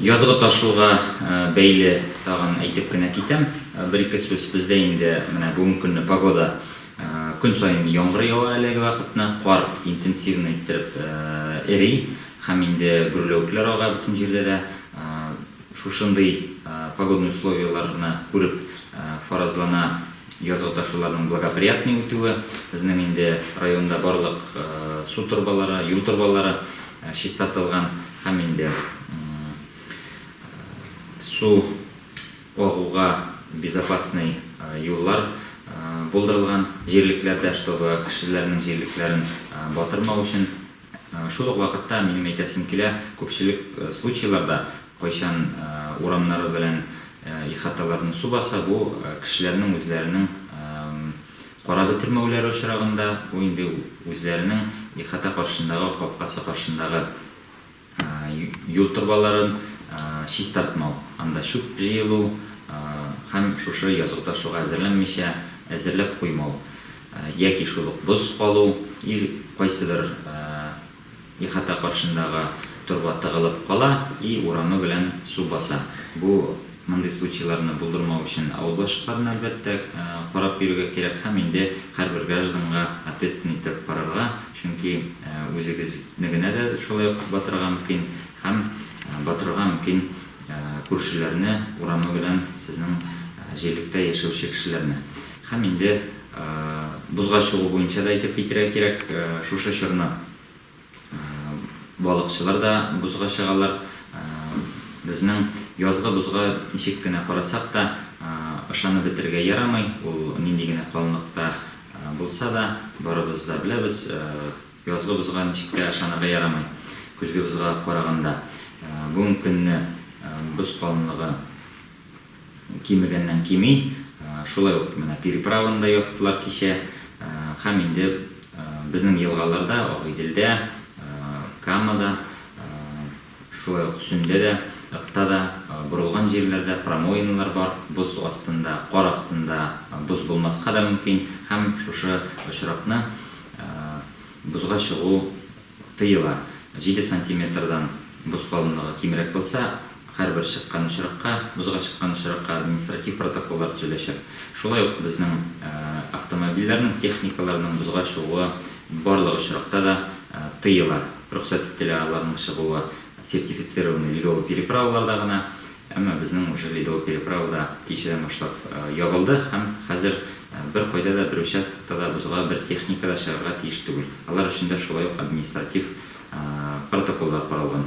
Язгы ташуга бәйле тагын әйтеп кенә китәм, бер-ике сүз. Бездә инде менә бүгенге көнне погода көн саен яңгыр ява әлеге вакытны, кар интенсивный иттереп эри һәм инде гөрләвекләр ага бөтен җирдә дә. Шушындый погодный условияләрне күреп, фаразлана язгы ташуларның благоприятный үтүе. Безнең инде районда барлык су торбалары, юл торбалары чистартылган. Һәм инде су агуга безопасный юллар булдырылган җирлекләрдә, чтобы кешеләрнең җирлекләрен батырмау өчен. Шул ук вакытта минем әйтәсем килә, күпчелек случайларда, кайчан урамнары белән ихаталарны су баса, бу кешеләрнең үзләренең Кара бетермәүләре очрагында, бу инде үзләренең ихата каршындагы, капкасы каршындагы юл торбаларын чистартмау, анда чүп җыелу һәм шушы язгы ташуга әзерләнмичә әзерләп куймау яки шул ук боз калу и кайсыдыр Ихата каршындагы торба тыгылып кала и урамы белән су баса. Бу мондый случайларны булдырмау өчен авыл башлыкларына, әлбәттә, карап йөрергә кирәк һәм инде һәрбер гражданга ответственный иттереп карарга, чөнки үзегезнегенә дә шулай ук батырга мөмкин һәм батырырга мөмкин күршеләрне, урамы белән сезнең җирлектә яшәүче кешеләрне. Һәм инде бозга чыгу буенча да әйтеп китәргә кирәк, шушы чорны балыкчылар да бозга чыгалар. Безнең язгы бозга ничек кенә карасак та, ышанып бетерергә ярамый, ул нинди генә калынлыкта булса да, барыбыз да беләбез, язгы бозга ничек тә ышанырга ярамый, көзге бозга караганда. Бүгенге көнне боз калынлыгы Кимегәннән кими. Шулай ук менә переправаны да яптылар кичә. Һәм инде безнең елгаларда, Агыйделдә, Камада, шулай ук Сөмдә дә, Ыкта да, борылган җирләрдә промоиналар бар, боз астында, кар астында боз булмаска да мөмкин, һәм шушы очракны бозга чыгу Тыела. Җиде сантиметрдан боз калынлыгы кимрәк булса, һәрбер чыккан очракка, бозга чыккан очракка административ протоколлар төзеләчәк. Шулай ук безнең автомобильләрнең, техникаларның бозга чыгуы барлык очракта да тыела. Рөхсәт ителә аларның чыгуы сертифицированный ледовый переправаларда гына, Әмма безнең уже ледовый переправа да кичәдән башлап ябылды һәм хәзер беркайда да, бер участокта да бозга бер техника да чыгарга тиеш түгел. Алар өчен дә шулай ук административ протоколлар каралган.